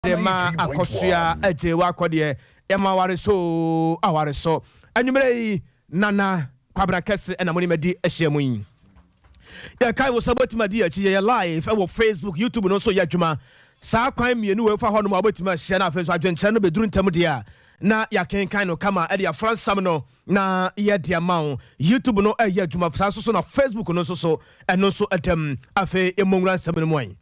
de ma akɔsoa agye w'akɔdeɛ yɛ ma aware so aware so anwummerɛ yi nana kwabena kɛse ɛna mo ne madi ahyia mu yi yɛkae wo sɛ wobɛtumi adi akyi yɛyɛ live ɛwɔ facebook youtube no nso yɛ adwuma saa kwan mmienu wɔ ɛfa hɔ nom a wobɛtumi ahyia no afei nso adwenkyerɛ no bɛduru ntam deɛ a na yɛakenkan no kama ɛde afra nsɛm no na yɛde ama wo youtube no ɛyɛ adwuma saa nso so na facebook no nso so ɛno nso ɛdam afei ɛmmɔ nwura nsɛm no mu an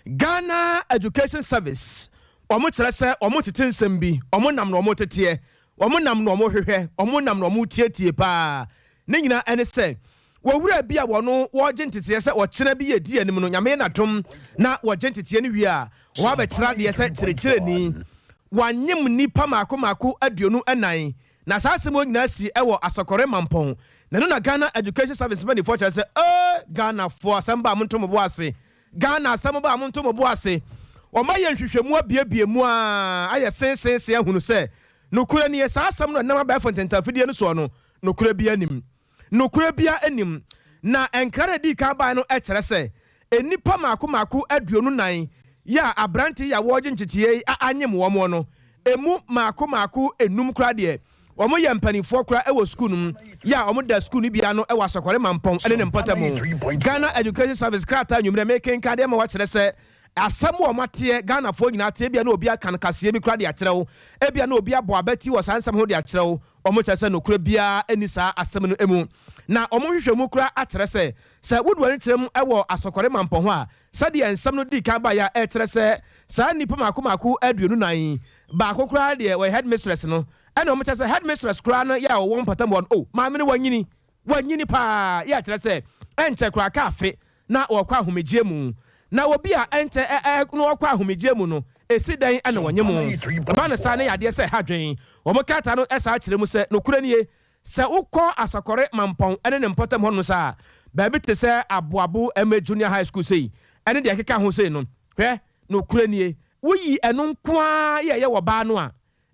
Ghana Education Service, wɔn kyerɛ sɛ wɔn tete nsɛm bi, wɔn nam na wɔn teteɛ, wɔn nam na wɔn hwehwɛ, wɔn nam na wɔn tietie paa. Ne nyinaa ɛne sɛ, wɔ wura bi a wɔno wɔregye nteteɛ sɛ ɔkyena bi yɛ di anim no, Nyame yɛ n'adom na wɔgye nteteɛ no wie a, wɔabɛkyerɛ adeɛ sɛ kyerɛkyerɛni. Wɔanyem nnipa maako maako aduonu ɛnan. Na saa asɛm wɔ nyinaa sii ɛwɔ Asɔkɔre Mampɔn na ɛno na Ghana Education Service mpaninfoɔ kyerɛ sɛ ee Ghanafoɔ asɛm ba a monto mo bo ase, Ghana asɛm ba a monto mo bo ase. Wɔn ayɛ nhwehwɛmu abiebie mu aa ayɛ see see see ahunu sɛ nokorɛ nie saa asɛm no ɛnam abɛɛfo ntentafidie no soɔ no nokorɛ biara nnim. Nokorɛ biara nnim. Na nkra no a ɛdii kan baeɛ no kyerɛ sɛ nnipa mmaako mmaako aduonu nnan yi a aberante yi a wɔregye nkyekyee yi a anyem wɔn no, ɛmu mmaako mmaako nnum koraa deɛ, wɔyɛ mpanimfoɔ koraa wɔ sukuu no mu yi a wɔda sukuu no bi ano wɔ Asɔkɔre Mampɔn ne ne mpɔtam. Ghana Education Service krataa anwummerɛ mekenkan de ama wɔakyerɛ sɛ asɛm a wɔateɛ, Ghanafoɔ nyinaa te, ebia na obi aka no kaseɛ bi koraa de akyerɛw, ebia na obi abɔ abati wɔ saa nsɛm ho de akyerɛw. Wɔkyerɛ sɛ nokorɛ biara nni saa asɛm no mu, na wɔn nhwehwɛmu koraa akyerɛ sɛ, sɛ wodu ani kyerɛ mu wɔ Asɔkɔre Mampɔ ho a, sɛdeɛ nsɛm no dii kan baeɛ a ɛkyerɛ sɛ saa nnipa mmaako mmaako aduonu nan yi baako koraa deɛ wɔyɛ Headmistress no, ɛnna wɔkyerɛ sɛ Headmistress koraa no yɛ a wɔwɔ mpɔtam hɔ no, oh, maame no wanyini, Wɔanyini paa yɛ kyerɛ sɛ ɛnkyɛ koraa ka afe na wɔkɔ ahomegyeɛ mu. Na obi a ɛnkyɛ ɛɛ na ɔkɔ ahomegyeɛ mu no, ɛsi dɛn na wɔnye mo? Ɛba no saa na ɛyɛ adeɛ sɛ ɛha dwen. Wɔn krataa no san kyerɛ mu sɛ, Nokorɛ nie, sɛ wokɔ Asɔkɔre Mampɔn ne ne mpɔtam hɔnom nso a, baabi te sɛ Aboabo MA Junior High School sei ne deɛ ɛkeka ho sei no, hwɛ, nokorɛ nie, woyi ɛno nko ara yɛ yɛ wɔ baa no a,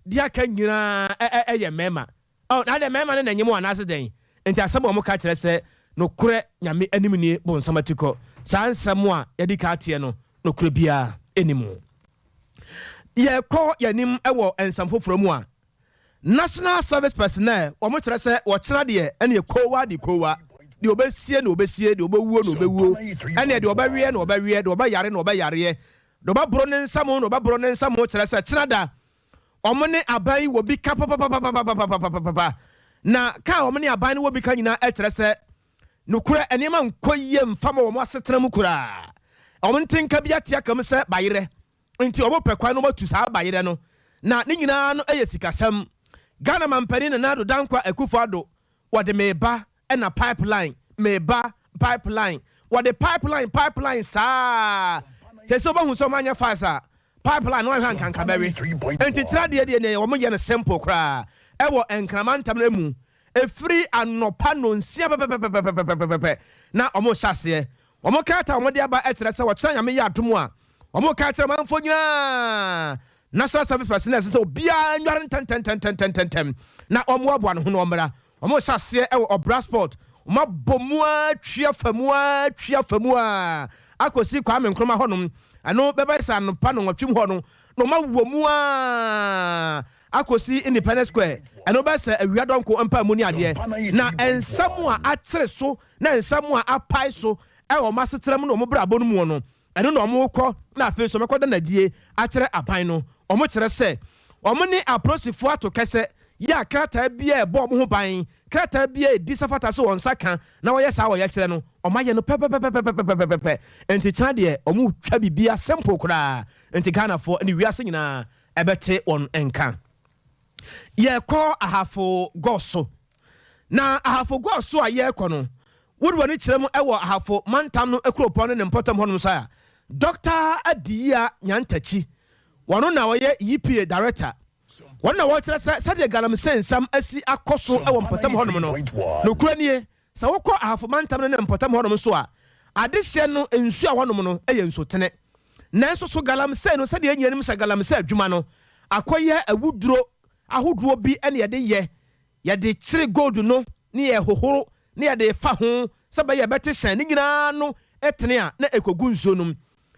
deɛ aka nyinaa yɛ mmarima. Ɔh, na adɛn, mɛɛma no na nyem wo anaase dɛn? Enti asɛm a wɔn ka kyerɛ sɛ, Nokorɛ Nyame anim nie bonsam atikɔ. Saa nsɛm a yɛadi kan ateɛ no, nokorɛ biara nni mu. Yɛrekɔ yɛn anim wɔ nsɛm foforɔ mu a, National Service Personnel, wɔn kyerɛ sɛ wɔkyena deɛ ɛneɛ koowa de koowa, deɛ ɔbɛsie na ɔbɛsie, deɛ ɔbɛwuo na ɔbɛwuo, ɛneɛ deɛ ɔbɛweɛ na ɔbɛweɛ, deɛ ɔbɛyare na ɔbɛyareɛ, deɛ ɔbɛboro ne nsam na ɔbɛboro ne nsam, kyerɛ sɛ kyena da Wɔn ne aban yi wɔ bi ka papapapapapapapapapapa. Na ka a wɔn ne aban no wɔ bi ka nyinaa ɛkyerɛ sɛ nokorɛ nneɛma nkɔ yie mfa ma wɔn asetena mu koraa. Wɔn nte nka bi ate aka mu sɛ bayerɛ nti wɔn pɛ kwan na wɔn atu saa bayerɛ no. Na ne nyinaa no yɛ sikasɛm. Ghana Mampanin Nana Addo Dankwa Akufo Addo wɔde meba ɛna pipeline meba pipeline wɔde pipeline pipeline saa sɛ sɛ wɔbɛhu sɛ wɔn anyɛ fast a pipeline no ahwɛ ankanka bɛwe nti kyerɛ adeɛ deɛ deɛ wɔn yɛ no simple koraa ɛwɔ nkrama ntam no mu efiri anɔpa nonsia pɛpɛpɛpɛpɛpɛpɛpɛ na wɔn hyɛ aseɛ wɔn kaata wɔn de aba ɛkyerɛ sɛ wɔkyerɛ nyame yɛ adomo a wɔn ka kyerɛ manfo nyinaa national service personnel sɛ obiara nware ntɛntɛntɛntɛntɛntɛm na wɔn aboa ne ho na wɔn mmra Wɔhyɛ aseɛ wɔ Ɔbra Sport, wɔabɔ mu ara atwi afa mu ara atwi afa mu ara akɔsi Kwame Nkrumah hɔnom, ɛno bɛbɛyɛ sɛ anɔpa nnɔnwɔtwem hɔ no, na wɔawɔ mu ara akɔsi Independence Square, ɛno bɛyɛ sɛ awia dɔnko mpaamu ne adeɛ. Na nsɛm a akyere so ne nsɛm a apae so wɔ wɔn asetram ne wɔn brabɔ no mu no, Ɛno na wɔkɔ na afei nso wɔkɔda no adie akyerɛ aban no. Wɔkyerɛ sɛ wɔn ne apolisifoɔ ato kɛsɛ yɛ a krataa biara a ɛbɔ wɔn ho ban, krataa biara a ɛdi sɛ fata sɛ wɔn nsa ka na wɔyɛ saa a wɔyɛkyerɛ no, wɔayɛ no pɛpɛpɛpɛpɛpɛpɛpɛpɛ. Nti kyena deɛ wɔretwa biribiara simple koraa nti Ghanafoɔ ne wiase nyinaa bɛte wɔn nka. Yɛkɔ Ahafo Gɔ so. Na Ahafo Gua so a yɛrekɔ no, wode w'ani kyerɛ mu wɔ Ahafo mantam no kuropɔn ne ne mpɔtam hɔnom nso a, Dɔkta Adiyia Nyantakyi, wɔno na ɔyɛ EPA Director, wɔno na wɔrekyerɛ sɛ sɛdeɛ galamsey nsɛm asi akɔ so wɔ mpɔtam hɔnom no, nokorɛ nie, sɛ wokɔ Ahafo mantam no ne mpɔtam hɔnom nso a, adehyeɛ no nsuo a wɔnom no yɛ nsutene. Nanso so galamsey no, sɛdeɛ yɛn nyinaa nim sɛ galamsey adwuma no, akɔyɛ awuduro ahodoɔ bi na yɛde yɛ Yɛde kyere gold no ne yɛhohoro na yɛde fa ho sɛ ɛbɛyɛ a ɛbɛte hyɛn no nyina ara ano tene a na ɛkɔgu nsuo no mu.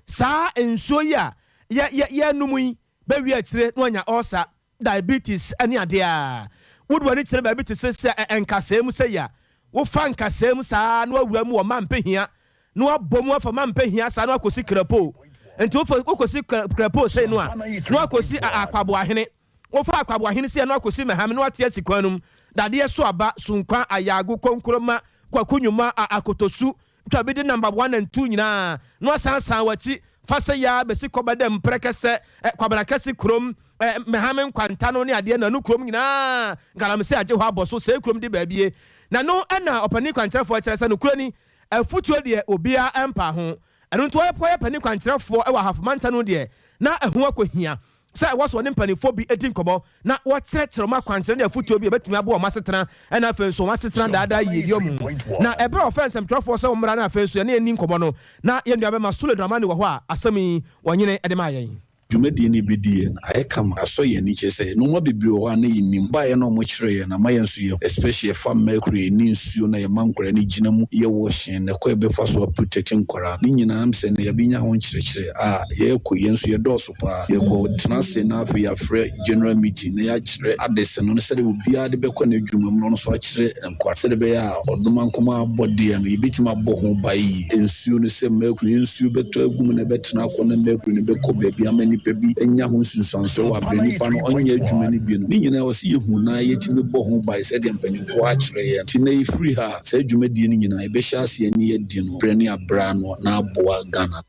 Saa nsuo yi a yɛnom yi bɛwie akyire na wanya ulcer, diabetes ne adeɛ a. Wode w'ani kyerɛ baabi te sɛ sɛ nkasɛɛ mu sei a, wofa nkasɛɛ mu saa na wawura mu wɔ Mampehia na wabɔ mu afa Mampehia saa na wakɔsi Krapoo. Nti wokɔsi Krapoo sei no a na wakɔsi Akwaboahene. Wɔfa Akwaboa Hene Sia no akosi Mɛhame no ate asi kwan no mu, Dadeɛ so aba, Sunkwa, Ayaago, Konkroma, Kwaku Nyoma, a Akotosu, Twabi de Nambaboa nantu nyinaa na wɔasan san wɔn akyi fa sɛ Yaa bɛsi Kɔba dam, Prɛkɛsɛ, Kwabena Kɛse Kurom, Mɛhame Nkwantano ne adeɛ Nanu Kurom nyinaa Galamsey agye hɔ abɔ so, Seekurom de baabie. Na no na Ɔpanin Kwankyerɛfoɔ kyerɛ sɛ nokorɛ ni, afutuo deɛ obiara mpaa ho. Ɛno nti wɔyɛ panin kwankyerɛfoɔ wɔ Ahafo Mantam no deɛ na ɛho akɔhia Sɛ ɛwɔ sɛ wɔne mpanimfoɔ bi di nkɔmmɔ na wɔkyerɛkyerɛ wɔn akwankyerɛ ne afotuo bi a ɛbɛtumi aboa wɔn asetena ne afei nso wɔn asetena daa daa yiedie mu. Na ɛberɛ a wɔfrɛɛ nsɛmtwerɛfoɔ sɛ wɔmmra na afei nso yɛne yɛnni nkɔmmɔ no, na yɛn nuabɛma Sule Dramani wɔ hɔ a asɛm yi ɔnyene de maa yɛn. Dwumadie no bi di yɛn ayɛ kama. Asɔ yɛn ani kyerɛ sɛ nnoɔma bebree wɔ hɔ a na yɛnnim. Baeɛ no a wɔkyerɛɛ yɛn no ama yɛn nso yɛhu. Especially ɛfa mercury ne nsuo no a yɛma nkwadaa no gyina mu yɛ washing na kwan a yɛbɛfa so a protect nkwadaa. Ne nyinaa mpsɛ nnɛ yɛabɛnya ho nkyerɛkyerɛ a yɛrekɔ yi yɛn nso yɛdɔɔso. Paa. Yɛkɔ tena ase na afei yɛafrɛ general meeting na yɛakyerɛ adesene no sɛdeɛ obiara de bɛkɔ n'adwuma mu na ɔno nso akyerɛ nkwa sɛdeɛ ɛbɛyɛ a ɔdoma nkumaa abɔdeɛ no yɛbɛtumi abɔ ho ban yie. Nsuo no sɛ mercury yɛ nsuo bɛtɔ agu mu na ɛbɛtena akɔ na mercury no bɛkɔ baabi ama nnipa bi anya ho nsunsuansoɔ wɔ aberɛ nnipa no ɔnyɛ adwuma no bi no. Ne nyinaa ɛwɔ sɛ yɛhu na yɛtumi bɔ ho ban sɛdeɛ mpanimfoɔ akyerɛ yɛn. Nti nnɛ yɛfiri ha a saa dwumadie no nyinaa yɛbɛhyɛ aseɛ ne yɛadi no berɛ ne aberɛ ano na aboa Ghana.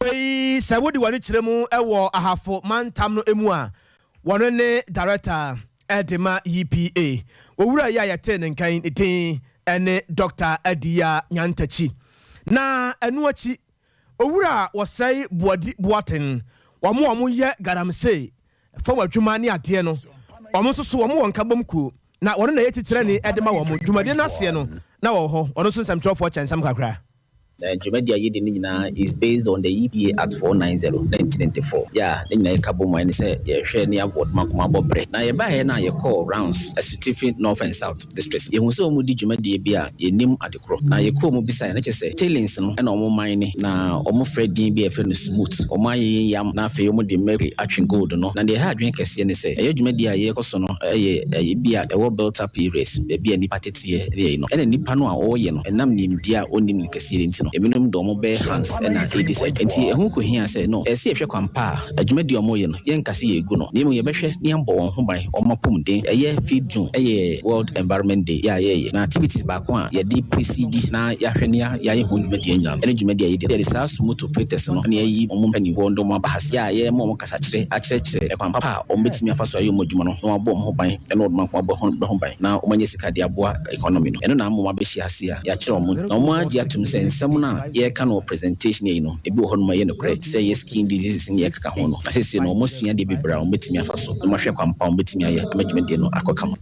Afei sɛ wode w'ani kyerɛ mu wɔ Ahafo mantam no mu a, wɔno ne Darɛkta de ma UPA. Wɔ wura yi a yɛtee ne nka yi, ne din ne Dɔkta Adiya Nyantakyi. Na ɛno akyi, Owura Wɔsɛe Boadi Boaten, wɔn a wɔn yɛ galamsey fam adwuma ne adeɛ no, wɔn nso so wɔn wɔ nkabom kuo, na wɔno na ɛyɛ titirani de ma wɔn. Dwumadie no aseɛ no na wɔwɔ hɔ, wɔno nso nsɛmtwerɛfoɔ kyɛnsɛm kakra. Na dwumadi a yɛdi no nyinaa is based on the EBA Act 490, 1984. Yɛ a ne nyinaa yɛka bom a ɛne sɛ yɛhwɛ ne award ma nkɔmmɔ abɔ bere. Na yɛbaeɛ no a yɛkɔɔ rounds asutifi North and South districts. Yɛhuu sɛ wɔn redi dwumadie bi a yɛnnim ade korɔ. Na yɛkɔɔ mu bisaeɛ na kyerɛ sɛ tailings no na wɔn mine na wɔn frɛ din bi a yɛfrɛ no smut. Wɔn ayeye yam na afei wɔn de mercury atwe gold no. Na deɛ ɛha adwene kɛseɛ ne sɛ ɛyɛ dwumadie a yɛkɔ so no yɛ ɛyɛ bi a ɛwɔ built up areas, baabi a nnipa tete. kɛseɛ ne yɛn no, ɛna nnipa no a ɔyɛ no ɛnam nimdeɛ a ɔnnim no kɛseɛ no nti no, ebinom de wɔn bɛyɛ Hans ɛna ɛdi saa dwuma. Enti ɛho kɔhia sɛ, no, ɛsɛ sɛ yɛhwɛ kwan pa a adwumadie a wɔyɛ no, yɛnka sɛ yɛregu no, na mmom yɛbɛhwɛ na yɛabɔ wɔn ho ban, wɔn apɔmuden. Ɛyɛ fifth June ɛyɛ World Environment Day yɛ a yɛyɛ, na activities baako a yɛde presidi na yɛahwɛ na yɛayɛ ho dwumadie nyinaa no, ɛne dwumadie a yɛdi no, yɛde saa Sumutu Pretext no na yɛayi wɔn mpanimfoɔ na wɔn aba ha sɛ yɛ a yɛrema wɔn kasa. kasakyerɛ akyerɛkyerɛ kwan papa a wɔbɛtumi afa so ayɛ wɔn adwuma no na wɔabɔ wɔn ho ban na wɔde wɔn nko abɔ wɔn ho ban na wɔanya sika de aboa economy no. Ɛno na ama wɔabɛhyia ase a yɛakyerɛ wɔn na wɔagye atom sɛ nsɛm no a yɛreka no wɔ presentation yi no, ebi wɔ hɔnom a ɛyɛ nokorɛ sɛ ɛyɛ skin diseases ne deɛ ɛkeka ho no. Na seesei no wɔasua adeɛ bebree a wɔbɛtumi afa so na wɔahwɛ kwan pa a wɔbɛtumi ayɛ ama dwumadie no akɔ kama.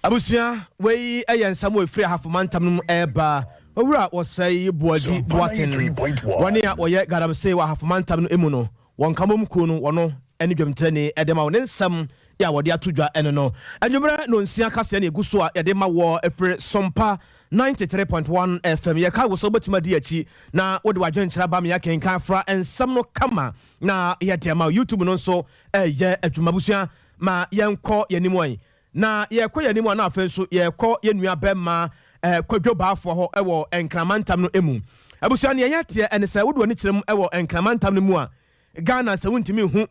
Abusua, Wei yɛ nsɛm a ɛfiri Ahafo Mantam no mu reba. Owura Osei Boadi Boateng, wɔn a wɔyɛ Galamsey wɔ Ahafo Mantam no mu no, wɔ Nkamom kuo no, wɔno ne dwamtirani de ma wo. Ne nsɛm a wɔde ato dwa ne no. Anwummerɛ nɔnsia kaseɛ na ɛgu so a yɛde ma woɔ firi Sompa 93.1 FM. Yɛkae wo sɛ wobɛtumi adi akyi na wode w'adwenkyerɛ aba ma yɛakenkan afra nsɛm no kama na yɛde ama wo. Youtube no nso reyɛ adwuma. Abusua, ma yɛnkɔ yɛn anim. Na yɛkɔ yɛn anim a na afei nso yɛkɔ yɛn nua bɛma eh, Kwadwo Baafoa hɔ wɔ Nkramantam no emu. Abusua neɛ yɛ teɛ ɛne sɛ wode w'ani kyerɛ mu wɔ Nkramantam no mu a, Ghana sɛ wontumi nhu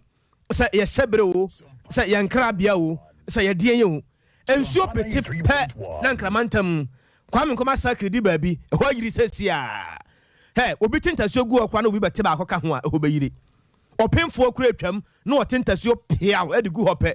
sɛ yɛ hyɛbere o, sɛ yɛ nkrabea o, sɛ yɛ deɛn yɛ o. Nsuo pete pɛ na Nkramantam, Kwame Nkrumah Circle di baabi, ɛhɔ ayiri sɛsiaa. Hɛ, obi te ntasuo gu hɔ koraa na obi bɛte baako ka ho a ɛhɔ bɛyiri. Ɔpemfoɔ koraa atwam na ɔte ntasuo peaw de gu hɔ pɛ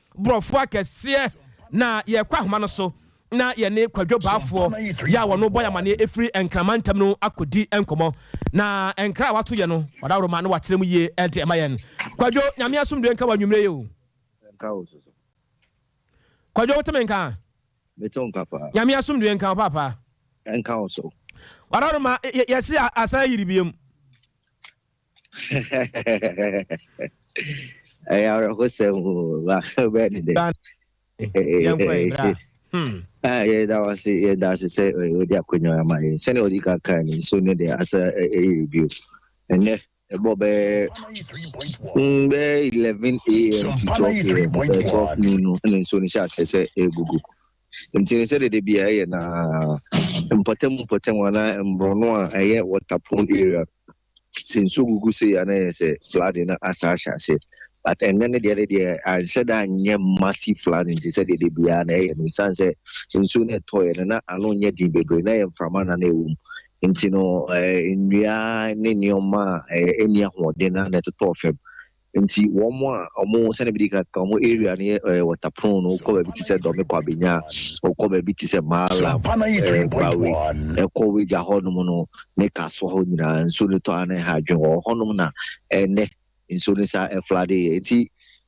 Borɔfo akɛseɛ na yɛkɔ ahoma no so na yɛne Kwadwo Baafoɔ yɛ a wɔn bɔ yɛ amaneɛ ɛfiri Nkrama ntam no akɔdi nkɔmmɔ. Na nkra a wato yɛ no, wadaworo ma na wakyerɛ mu yie de ma yɛn. Kwadwo, Nyame asomdwoeɛ nka wo anwummerɛ yi o. Nka wo nso so. Kwadwo, wote me nka? Mete wo nka paa. Nyame asomdwoeɛ nka wo paapa. Nka wo nso. Wadaworo ma yɛse asan ayiri biom. ɛyɛ awerɛhosɛm bɛɛ ne dɛ yɛda wase yɛda ase sɛ wode akonnwa ama yɛ sɛne wode ka kaa ni nso no deɛ asɛ ɛyɛ bio ɛnɛ ɛbɔ bɛɛ bɛɛ 11 am to 12 am bɛɛ 12 noon no ɛne nso no hyɛ asɛ sɛ ɛgugu nti ne sɛ dede bia ɛyɛ na mpɔtam mpɔtam anaa mborɔno a ɛyɛ waterpool area Sɛ nsuo gugu sei a na ɛyɛ sɛ flooding na asa ahyɛ aseɛ. But ɛnnɛ no deɛ ne deɛ anhyɛ da anyɛ massive flooding te sɛ deɛ de biara na ɛyɛ no. Ɛsiane sɛ nsuo no ɛtɔeɛ no na ano nyɛ den bebree na ɛyɛ mframa na na ɛwɔ mu. Nti no eh, nnua ne nneɛma a eh, ɛnni ahoɔden na na ɛtotɔɔ fam. Nti wɔn a wɔn sɛnɛ bi di kan ka wɔn area no yɛ ɛɛ eh, wɔtapron no kɔ baabi ti sɛ dɔmi kɔ abenya ɔkɔ baabi ti sɛ maala ɛɛ eh, bawe ɛkɔ wagya hɔnom no ne kasoa hɔ nyinaa nsuo no tɔ ano ha adwene wɔ hɔnom na ɛnɛ nsuo no saa ɛflade yɛ nti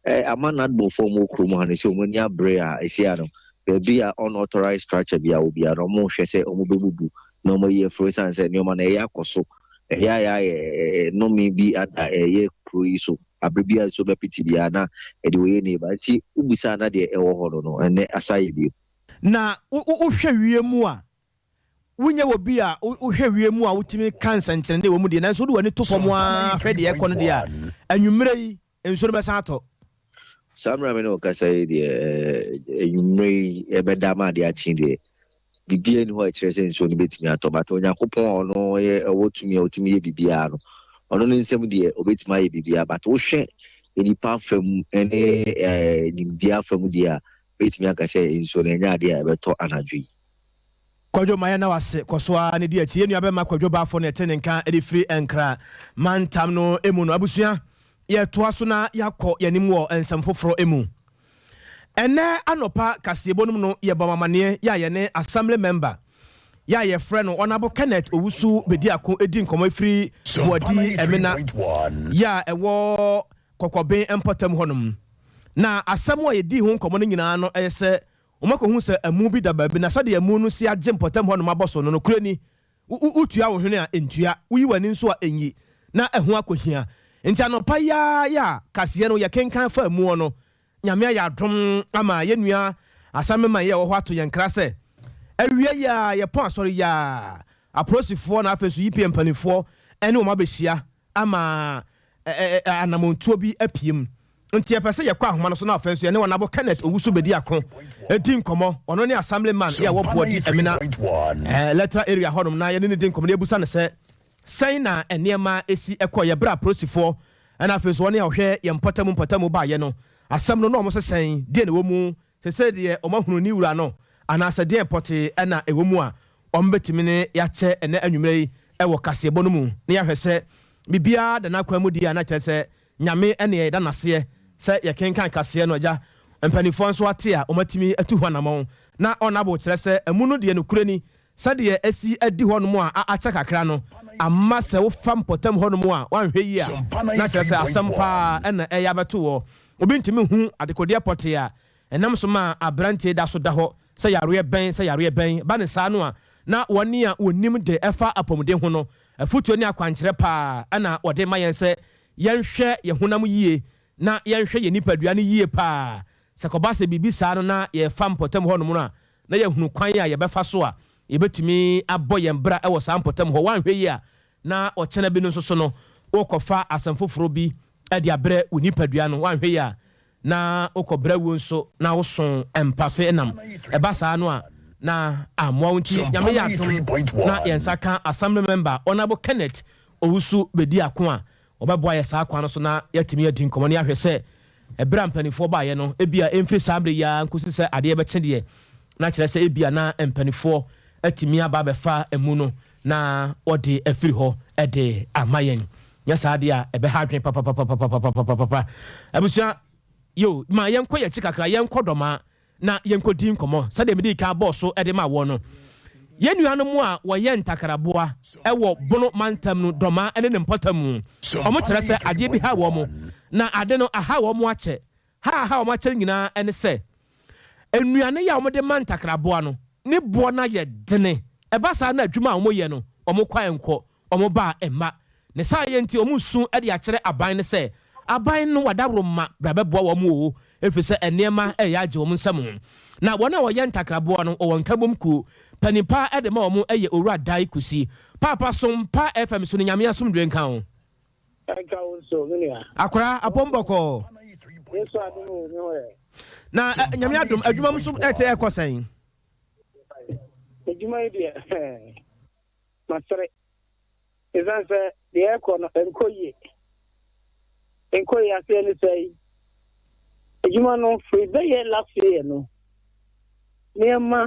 ɛɛ eh, ama nadbɔfoɔ mu kurom ha no sɛ wɔn ani abere a ɛsi ano baabi a unauthorized structure bi a obi a na wɔn hwɛ sɛ wɔn bɛbubu na wɔn ayi afuro san sɛ nneɛma na ɛyɛ akɔ so. Ɛyɛ a yɛ nnome bi ada ɛyɛ kuro yi so abere bi a nsuo bɛpete biara na ɛde wɔyɛ neighbor nti wo bisa na deɛ ɛwɔ hɔ no no ɛnɛ asa yɛ bio. Na wo hwɛ wie mu a wo nyɛ wɔ bi a wo hwɛ wie mu a wo tumi ka nsɛnkyerɛnne wɔ mu deɛ nanso wo de w'ani to fam aa hwɛ deɛ ɛkɔ no deɛ a anwummerɛ yi nsuo no bɛsan atɔ. Saa mmerɛ a me ne wo rekasa yi deɛ, anwummerɛ yi ɛbɛda ama adeɛ akye deɛ, biribiara nni hɔ a ɛkyerɛ sɛ nsuo no bɛtumi atɔ. But Onyankopɔn a ɔno yɛ ɔwɔ tumi a ɔtumi yɛ biribiara no, ɔno ne nsam deɛ ɔbɛtumi ayɛ biribiara. But wohwɛ nnipa afa mu ne nimdeɛ afa mu deɛ a, mɛtumi aka sɛ nsuo no ɛnyɛ adeɛ a ɛbɛtɔ anadwo yi. Kwadwo mayɛ na wase kɔ so ara ne di akyi yɛ nua bɛma kwadwo bafo na ɛte ne nka de firi nkra mantam no mu no abusua yɛ toa so na yɛ akɔ yɛ anim wɔ nsɛm foforɔ mu ɛnɛ anɔpa kaseɛbɔ no mu no yɛ bɔ mamaneɛ yɛ a yɛ ne assembly member yɛ a yɛ frɛ no honourable Kenneth Owusu bedi ako edi nkɔmɔ efiri Boadi Ɛmena yɛ a ɛwɔ Kɔkɔben mpɔtam hɔ nom na asɛm a yɛ dii ho nkɔmɔ no nyinaa no ɛyɛ sɛ Wɔakɔhu sɛ amu bi da baabi, na sɛdeɛ amu no si agye mpɔtam hɔnom abɔ so no, nokorɛ ni, wo, wo, wotua wo hwene a, ɛntua, woyi w'ani nso a, ɛnyi, na ɛho akɔhia. Enti anɔpa yi ara yɛ a kaseɛ no yɛkenkan faa amuɔ no, Nyame ayɛ adom ama yɛn nua Asameman yi a ɔwɔ hɔ ato yɛn nkra sɛ, Awia yi ara yɛpɔn Asɔre yi ara, Apolisifoɔ na afei nso UPA mpaninfoɔ ne wɔn abɛhyia ama ɛ, ɛ, ɛ, anammɔntuo bi apue mu. Nti yɛpɛ sɛ yɛkɔ ahoma no so na afei nso yɛne Ɔnabo Kenneth Owusu Bediako di nkɔmmɔ. Ɔno ne Assemblyman a ɔwɔ Boadi Amina electoral area hɔnom na yɛne no di nkɔmmɔ na yɛbisa no sɛ, sɛn na nneɛma si kɔeɛ berɛ a apolisifoɔ na afei nso wɔn a wɔhwɛ yɛn mpɔtamu mpɔtamu baeɛ no, asɛm no na wɔn nso sɛn, deɛn na ɛwɔ mu Te sɛ deɛ wɔahunu ne wura no anaasɛ deɛn pɔtee na ɛwɔ mu a wɔbɛtumi ne yɛakyɛ ɛnnɛ anwummerɛ yi wɔ kaseɛbɔ no mu na yɛahwɛ sɛ biribiara da n'akwan mu deɛ a na kyerɛ sɛ Nyame ne yɛn da no aseɛ sɛ yɛkenkan kaseɛ no agya mpaninfoɔ nso ate a wɔatumi atu ho anamɔn na wɔn abo kyerɛ sɛ amu no deɛ nokorɛ ni Sɛdeɛ asi adi hɔnom a akyɛ kakra no ama sɛ wofa mpɔtam hɔnom a woanhwɛ yie a na kyerɛ sɛ asɛm pa ara na ɛreyɛ abɛto wo. Obi ntumi nhu adekodeɛ pɔtee a ɛnam so ma aberanteɛ da so da hɔ sɛ yareɛ bɛn sɛ yareɛ bɛn. Ɛba no saa no a, na wɔn a wɔnim de ɛfa apɔmuden ho no, afotuo ne akwankyerɛ pa ara na wɔde rema yɛn sɛ yɛnhwɛ yɛn honam yie na yɛnhwɛ yɛn nipadua no yie pa ara. Sɛ ɛkɔba sɛ biribi saa no na yɛrefa mpɔtam hɔnom no a, na yɛahunu kwan a yɛbɛfa so a yɛbɛtumi abɔ yɛn bra wɔ saa mpɔtam hɔ. Woanhwɛ yie a, na ɔkyena bi no nso so no, worekɔfa asɛm foforɔ bi de abrɛ wo nipadua no. Woanhwɛ yie a, na wokɔbrɛ wuo nso na woso mpafe nam. Ɛba saa no a, na ammoa wo. Nti Nyame yɛ adom na yɛn nsa ka Assembly Member Honourable Kenneth Owusu bɛdi ako a Wɔbɛboa yɛn saa kwan no so na yɛatumi adi nkɔmmɔ na yɛahwɛ sɛ bere a mpanimfoɔ baeɛ no, ebia ɛmfiri saa bere yi ara nkɔsi sɛ adeɛ bɛkye deɛ, na kyerɛ sɛ ebia na mpanimfoɔ atumi aba abɛfa amu no na wɔde afiri hɔ de ama yɛn. Nyɛ saa deɛ a, ɛbɛha adwene papapapapapapapapa. Abusua, yo, ma yɛnkɔ yɛn akyi kakra, yɛnkɔ Dɔmaa. na yenkodi nkɔmmɔ. Sɛnea midii kan bɔɔ so de maa wɔn no, yɛn nuanom a wɔyɛ ntakaraboa wɔ Bono mantam no Dormaa ne ne mpɔtamu. Wɔkyerɛ sɛ adeɛ bi haa wɔn, na ade no ahaw wɔn akyɛ. Ha a ahaw wɔn akyɛ no nyinaa ne sɛ, nnuane yi a wɔde ma ntakraboa no, ne boɔ no ayɛ dene. Ɛba saa na adwuma a wɔyɛ no, wɔn kwan nkɔ. Wɔbaa mma. Ne saa yɛ nti wɔresu de akyerɛ aban no sɛ, Aban no adaworoma, bra bɛboa wɔn o, ɛfiri sɛ nneɛma reyɛ agye wɔn nsam. Na wɔn a wɔyɛ ntakraboa no wɔ wɔn nkabom kuo panin pa ara de ma wɔn yɛ Owura Dae Kusi. Paapa som pa FM so no Nyame asomdwoeɛ nka wo. Ɛnka wo nso me nua. Akwadaa apɔm bɔkɔɔ. Yesu adom o me ho yɛ. Na Nyame adom adwuma mu nso ɛte ɛkɔ sɛn? Adwuma yi deɛ. masere esiane sɛ deɛ ɛrekɔ no ɛnkɔ yie. Ɛnkɔ yie aseɛ ne sɛe. Adwuma no firi bɛyɛ last year no nneɛma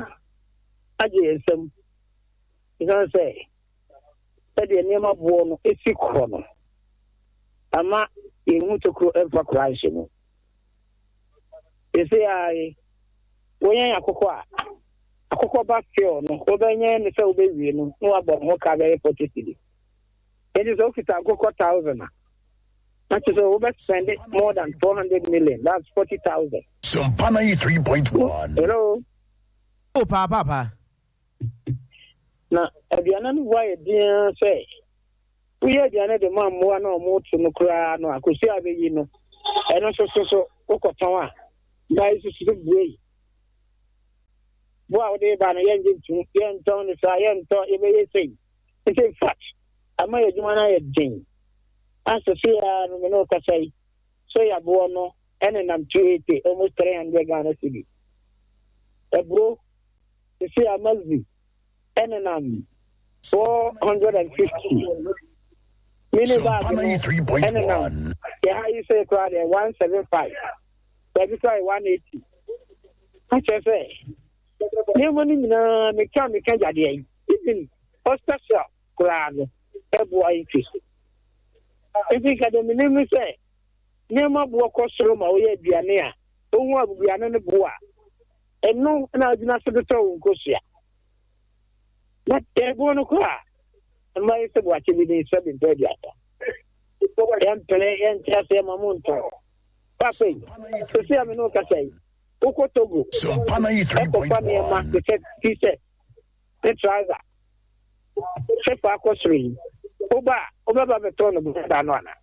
agye yɛn nsam esiane sɛ sɛdeɛ nneɛma boɔ no si kɔ no ama yɛn mu tokuro mfa koraa nhyɛ mu. Sese ara yi, wonyɛn akokɔ a, akokɔ ba few no, wobɛnyɛn no sɛ wobɛwie no na wabɔ ne ho ka bɛyɛ 40 cedi. Enti sɛ wokita nkokɔ 1,000 a, na kyerɛ sɛ wobɛspɛnde more than 400 million, that's 40,000. Sumpa 93.1. Hello. Oh, paa paa paa. Na aduane no bo ayɛ den ara sɛ woyɛ aduane de ma mmoa no a wɔreto no koraa no a, kɔsi a wobɛyi no. Ɛno nso so so wokɔtɔn a, mmaa yi nso so so buei. Bo a wode ba no, yɛngye ntom, yɛntɔn no saa, yɛntɔ, yɛbɛyɛ sei. Nti in fact, ama yɛn adwuma no ayɛ den. A sese ara no, me ne wo kasa yi, soya boɔ no nenam 280, almost 300 Ghana cedi. Aburo Sisi a Magzi nenam four hundred and fifty. Mini bag no nenam yɛha yi sɛ koraa deɛ one seven five. Baabi koraa yɛ one eighty. Akyerɛ sɛ nneɛma no nyinaa meka meka gyadeɛ yi even hospital koraa no ɛboa yi ti so. Nti nka deɛ menim ne sɛ nneɛma boɔ kɔ soro ma woyɛ aduane a wohu abubuane no boa. Ɛno na wogyina so de tɔ wo nkosua. Na tɛɛboɔ no kɔ a, mma yɛ sɛ boakye bi ne sɛ bempɛ aduasa. Yɛmpene, yɛnte aseɛ ma mo ntɔ. Paapa yi, sɛsi a me ne wo kasa yi, wokɔ Togo ɛkɔfa nneɛma te sɛ t-shirt ne trouser sɛ fa akɔ soro yi, woba a, wobɛba bɛtɔ no bɛda no anaa?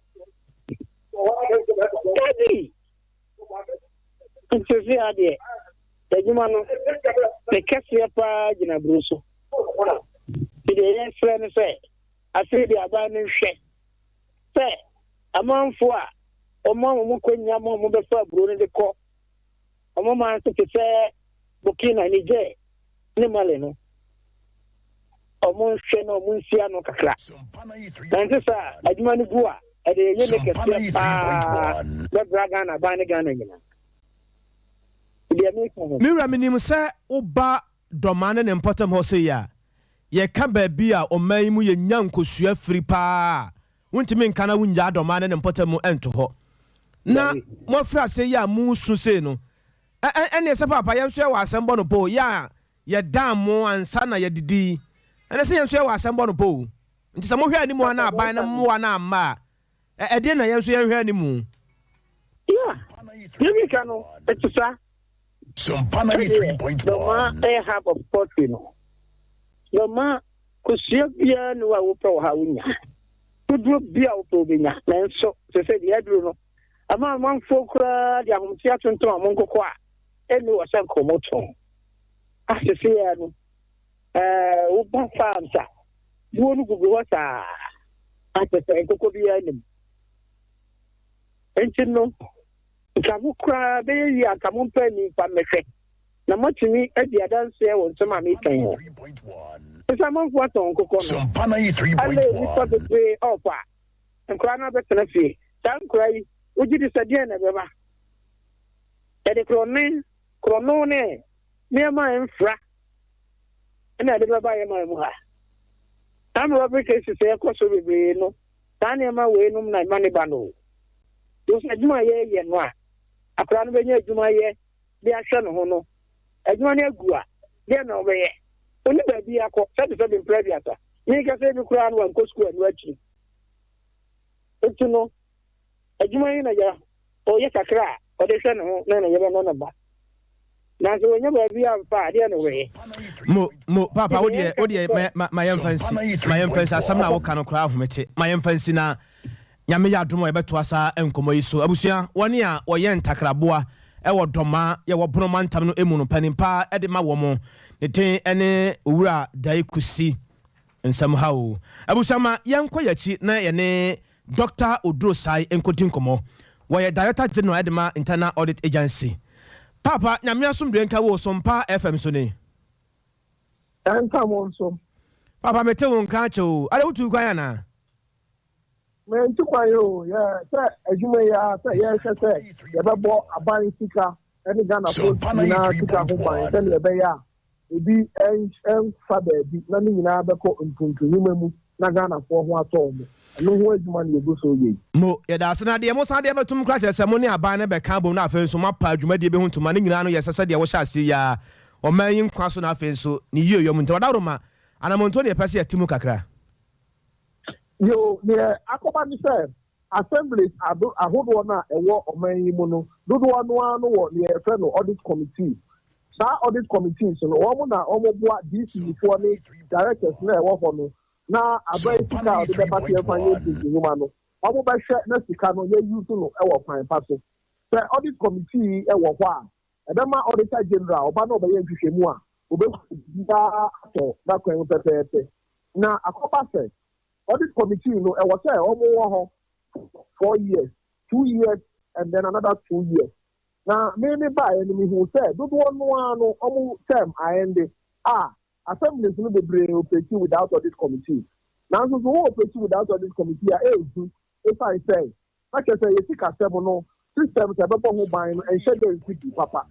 Dabi! Nsese ha deɛ, adwuma no, ne kɛseɛ paa gyina buro so. Nti deɛ yɛsrɛ ne sɛ, afei deɛ aban no nhwɛ sɛ amanfo a wɔn a wɔn kɔnya ma wɔn bɛfa aburo no de kɔ wɔn man so te sɛ Burkina, Niger, ne Mali no, wɔnhwɛ na wɔnsi ano kakra. Na ɛnte sɛ a adwuma no gu a, ɛde yɛyɛ ne kɛseɛ paa bɛbra Ghana aban ne Ghana nyinaa. Deɛ meka no. Me wura, menim sɛ woba Dɔmaa ne ne mpɔtam hɔ sei a, yɛka baabi a ɔman yi mu yɛnya nkosua firi paa a, wontumi nka na wonnyaa Dɔmaa ne ne mpɔtam nto hɔ. Na moafiri aseɛ yi a moresu sei no, Ɛ ɛ ɛneɛ sɛ paapa yɛnso yɛwɔ asɛm bɔ no pɔ o, yɛ a yɛdaa mo ansa na yɛdidi yi, ɛneɛ sɛ yɛnso yɛwɔ asɛm bɔ no pɔ o. Nti sɛ mohwɛ animu a na aban no mmoa no amma a, ɛ ɛdeɛ na yɛnso yɛnhwɛ animu? Yeah, deɛ ɔdi ka no, ɛte saa. Sɛdeɛ Dɔma yɛ hub of poetry no, Dɔma kosua biara nni hɔ a wopɛ wɔ ha a wonnya, woduro biara a wopɛ wobɛnya, nanso sɛ sɛ deɛ aduro no, ama amanfoɔ koraa de ahomteɛ atontom wɔn nkokɔ a ɛnni wɔ sɛ nkorɔmotɔn. Asese yɛ no, ɛɛ woba farms a, buo no gugu hɔ saa a kyerɛ sɛ nkokɔ biara nnim. Nti no, nka mo koraa bɛyɛ yie anka mompɛ ani mfa mmɛhwɛ na moatumi adi adanseɛ wɔ nsɛm a meka yi ho. Sɛ sɛ amanfoɔ atɔn nkokɔ no, ɛlɛɛ nnipa bebree ɔɔpa. Nkwadaa no abɛtena fie. Saa nkwadaa yi, wogye di sɛ deɛn na ɛbɛba? Yɛde korɔne, korɔno ne nneɛma a ɛmfra na ɛde bɛba yɛn man mu ha. Saa mmerɛbere cases a ɛkɔ so bebree no, saa nneɛma wei nom na ɛma ne ba no. Wosɛ adwuma a yɛyɛ no a, akwadaa no bɛnya adwuma yɛ de ahwɛ ne ho no, adwuma no agu a, deɛ na ɔbɛyɛ? Ɔni baabi akɔ, sɛbesɛbe mprɛ aduasa. Menkasa ebi koraa no wankɔ sukuu annu akyiri. Nti no, adwuma yi na yɛ ɔyɛ kakra a ɔde hwɛ ne ho na ne yere ne ne ba. Nanso wɔnyɛ baabi a mfa adeɛ na wɔyɛ. Mo mo papa wo deɛ wo deɛ ma yɛmfa nsi ma yɛmfa nsi asɛm na woka no koraa ahomete ma yɛmfa nsi na nyame yɛ adom a yɛbɛto asa nkɔmmɔ yi so abusua wɔne a wɔyɛ ntakraboa ɛwɔ dɔma yɛwɔ bono mantam no emu no panimpa ɛde ma wɔ mo ne den ɛne owura dae kusi Nsɛm ha o. Abusua ma yɛnkɔ yɛn akyi na yɛne Doctor Oduro Sai nkɔdi nkɔmmɔ. Wɔyɛ Director General de ma Internal Audit Agency. Paapa, Nyame asomdwoe nka wo so Mpa FM so ni. Ɛnka mo nso. Paapa mete wo nka akyɛ o. Adɛ wotu kwan anaa? Mentu kwan o. Yɛ sɛ adwuma yi ara sɛ yɛhwɛ sɛ yɛbɛbɔ aban sika ne Ghanafoɔ nyinaa sika ho ban sɛdeɛ ɛbɛyɛ a Ebi nsa baabi na ne nyinaa bɛkɔ mpuntunwuma mu na Ghanafoɔ ho atɔ wɔn. Ɛno ho adwuma na yɛgu so reyɛ yi. Mo, yɛda ase. Na deɛ mosan de abɛtom no koraa kyerɛ sɛ mo ne aban no bɛka abom na afei nso moapa dwumadie bi ho ntoma. Ne nyinaa no, yɛsɛ sɛdeɛ wɔhyɛ aseɛ yi ara, ɔman yi nkwa so na afei nso ne yieyɔ mu. Nti ɔdawuroma, anammɔntuo na yɛpɛ sɛ yɛte mu kakra. Yoo, deɛ akɔba ne sɛ, Assemblies ahodoɔ no a ɛwɔ ɔman yi mu no, dodoɔ no ara no wɔ deɛ yɛfrɛ no Audit Committee. Saa Audit Committees no, wɔn na wɔboa DCE foɔ ne Directors no a ɛwɔ hɔ no na aban sika a wɔde bɛba sɛ yɛmfa nyɛ DCE nnwuma no, wɔbɛhwɛ na sika no yɛ use no wɔ kwan pa so. Sɛ Audit Committee yi wɔ hɔ a, ɛbɛma Auditor General ɔba na ɔbɛyɛ nhwehwɛmu a, ɔbɛhu sɛ biribiara atɔ n'akwan mu pɛpɛɛpɛ. Na akɔba sɛ Audit committee no ɛwɔ sɛ ɔmo wɔ hɔ for four years, two years and then another two years. Na me me baeɛ no me huu sɛ dodoɔ no ara no ɔmo term aende a assemblies no bebree operate without audit committee. Nanso so wo operate without audit committee a ɛnhu ɛsiane sɛ na kyerɛ sɛ yɛ sikasɛm no systems a ɛbɛbɔ ho ban no nhyɛ da nsi gu papa.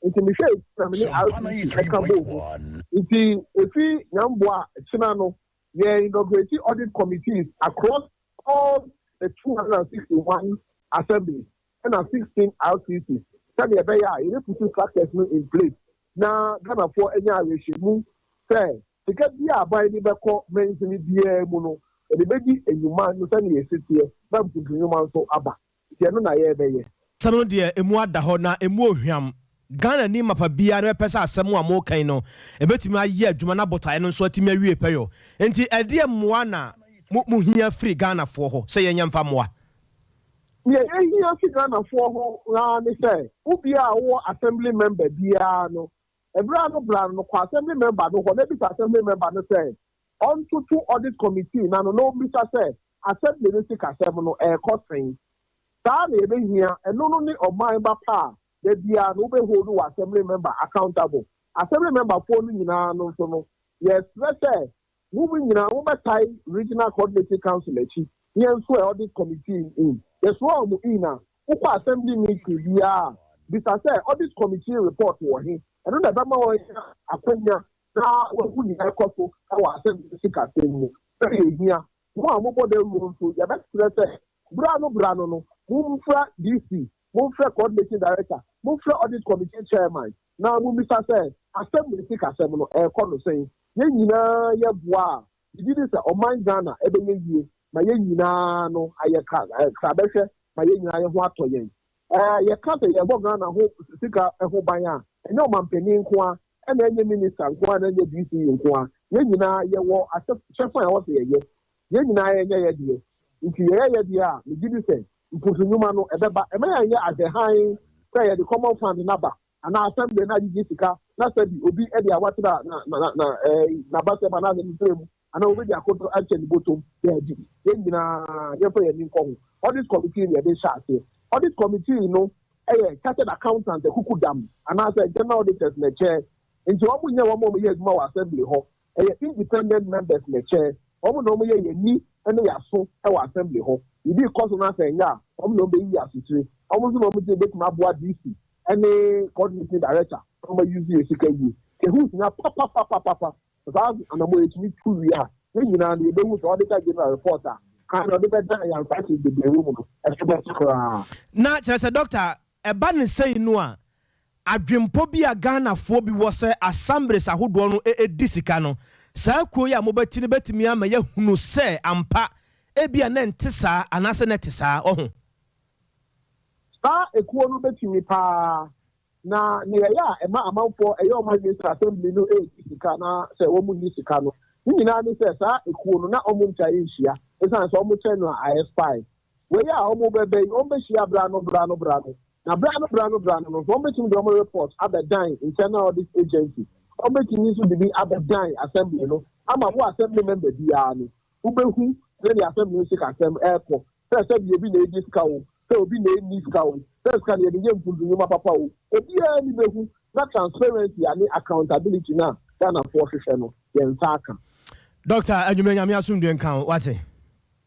Nti me hwɛɛ sɛ me ne RPC ɛka bɔɔ mu. Nti ɛfiri Nyamboa kyena no yɛ inaugurate audit committees across all the two hundred and sixty one assemblies ɛna sixteen RCC sɛdeɛ ɛbɛyɛ a yɛbɛputu structures no in place na Ghanafoɔ anya awerɛhyɛmu sɛ sika biara a aban de bɛkɔ mansini biara mu no, yɛde bɛdi nnwuma no sɛdeɛ ɛsiteɛ na mpuntunwuma nso aba. Nti ɛno na yɛɛbɛyɛ. Asɛm no deɛ ɛmu ada hɔ na ɛmu ɔhwam. Ghanani mapa biara no bɛpɛ sɛ asɛm a moka yi no ɛbɛtumi ayɛ adwuma na botaeɛ no nso atumi awie pɛyɔ. Nti ɛdeɛ mmoa na mo hia firi Ghanafoɔ hɔ sɛ yɛnyɛ mfa mmoa? Deɛ yɛhia firi Ghanafoɔ hɔ ara ne sɛ wo biara a wowɔ Assembly member biara no ɛberɛ a no bra no kɔ Assembly member no hɔ na bisa Assembly member no sɛ ɔntoto Audit Committee no ano na ɔmmisa sɛ Assembly no sikasɛm no ɛrekɔ sɛn. Saa na yɛbɛhia, ɛno no ne ɔman ba pa a da biara no wobɛ hold wo Assembly Member accountable. Assembly Member foɔ no nyinaa no nso no, yɛsrɛ sɛ mom nyinaa mobɛtae Regional Coordinating Council akyi na yɛnsoɛ Audit Committee no in. Yɛsoa wɔn in a, wokɔ Assembly Meeting biara a, bisa sɛ Audit Committee Report wɔ he? Ɛno na ɛbɛma wɔanya akwanya na wɔahu nea ɛrekɔ so wɔ asɛnka ne sikasɛm mu. Sɛnea ehia. Mo a mobɔ dawuru no nso, yɛbɛsrɛ sɛ, bere ano bere ano no, momfrɛ DC, momfrɛ Coordination Director, momfrɛ Audit Committee Chairman, na mummisa sɛ, Asɛm ne sikasɛm no, ɛrekɔ no sɛn? Yɛn nyinaa yɛboa a, megye di sɛ ɔman Ghana bɛyɛ yie, ma yɛn nyinaa ano ayɛ krabɛhwɛ, ma yɛn nyinaa yɛn ho atɔ yɛn. Sɛ yɛka sɛ yɛbɔ Ghana ho sika ho ban a, ɛnyɛ ɔmampanin nko ara, ɛna ɛnyɛ minista nko ara, ɛna ɛnyɛ DC nko ara. Yɛn nyinaa yɛwɔ ahyɛfa a ɛwɔ sɛ yɛyɛ. Yɛn nyinaa yɛnyɛ yɛn deɛ. Nti yɛyɛ yɛn deɛ a, megye di sɛ mposo nnwuma no, ɛbɛba. Ɛma yɛnyɛ adwɛ hann sɛ yɛde Common Fund no aba anaa Assembly no agyegye sika na sɛbi obi de awatra n'abasɛm anaa n'anifere mu Anaa obedi akoto ahyɛ ne bɔtɔm? Dabi. Yɛn nyinaa, yɛmfa yɛn ani nkɔ ho. Audit Committee na yɛde hyɛ aseɛ. Audit Committee no yɛ Chartered Accountants akukudam anaasɛ General Auditors na ɛkyɛ. Enti wɔn nyɛ wɔn a wɔyɛ adwuma wɔ Assembly hɔ. Ɛyɛ Independent Members na ɛkyɛ. Wɔn na wɔyɛ yɛn ani ne yɛn aso wɔ Assembly hɔ. Biribi rekɔ so na sɛ ɛnyɛ a, wɔn na wɔbɛyiyi asotire. Wɔn nso na wɔn tumi bɛtumi aboa DC ne Coordinating Director na wɔayuse yɛn sika yie. Sɛ ɛho hia papapapapapa Sɛ saa anammɔn yi tumi tu wie a, yɛn nyinaa no, yɛbɛhu sɛ ɔde ka general report a kan na ɔde bɛda ayansase bebree wɔ mu no so bɛte koraa. Na kyerɛ sɛ, Dɔkta, ɛba no sei no a, adwempɔ bi a Ghanafoɔ bi wɔ sɛ assemblies ahodoɔ no di sika no, saa kuo yi a mobɛte no bɛtumi ama yɛahunu sɛ ampa ebia na ɛnte saa anaasɛ na ɛte saa, ɔho? Saa ekuo no bɛtumi paa Na nea ɛyɛ a ɛma amanfoɔ ɛyɛ wɔn adwene sɛ assembly no regye sika na sɛ wɔn nni sika no, ne nyinaa ne sɛ saa ekuo no na wɔn ntwa nhyia esiane sɛ wɔn kyɛ no a a expire. Wei a wɔn bɛ bɛ yi wɔn bɛ hyia bra no bra no bra no na bra no bra no bra no no nso wɔn bɛtumi de wɔn report abɛ dan internal audit agency, wɔn bɛtumi nso de bi abɛ dan assembly no ama wo assembly member biara no Wubehu sɛnea asɛm ne sikasɛm rekɔ, sɛ sɛnea obi na egye sika o, sɛ obi na enni sika o, sɛ sika na yɛde yɛ mfuntu nnwuma papa o, obiara ani behu, na transparency a ne accountability no a Ghanafoɔ hwehwɛ no, yɛn nsa aka. Doctor Anwumere Nyame asomdwe nka wo, wate?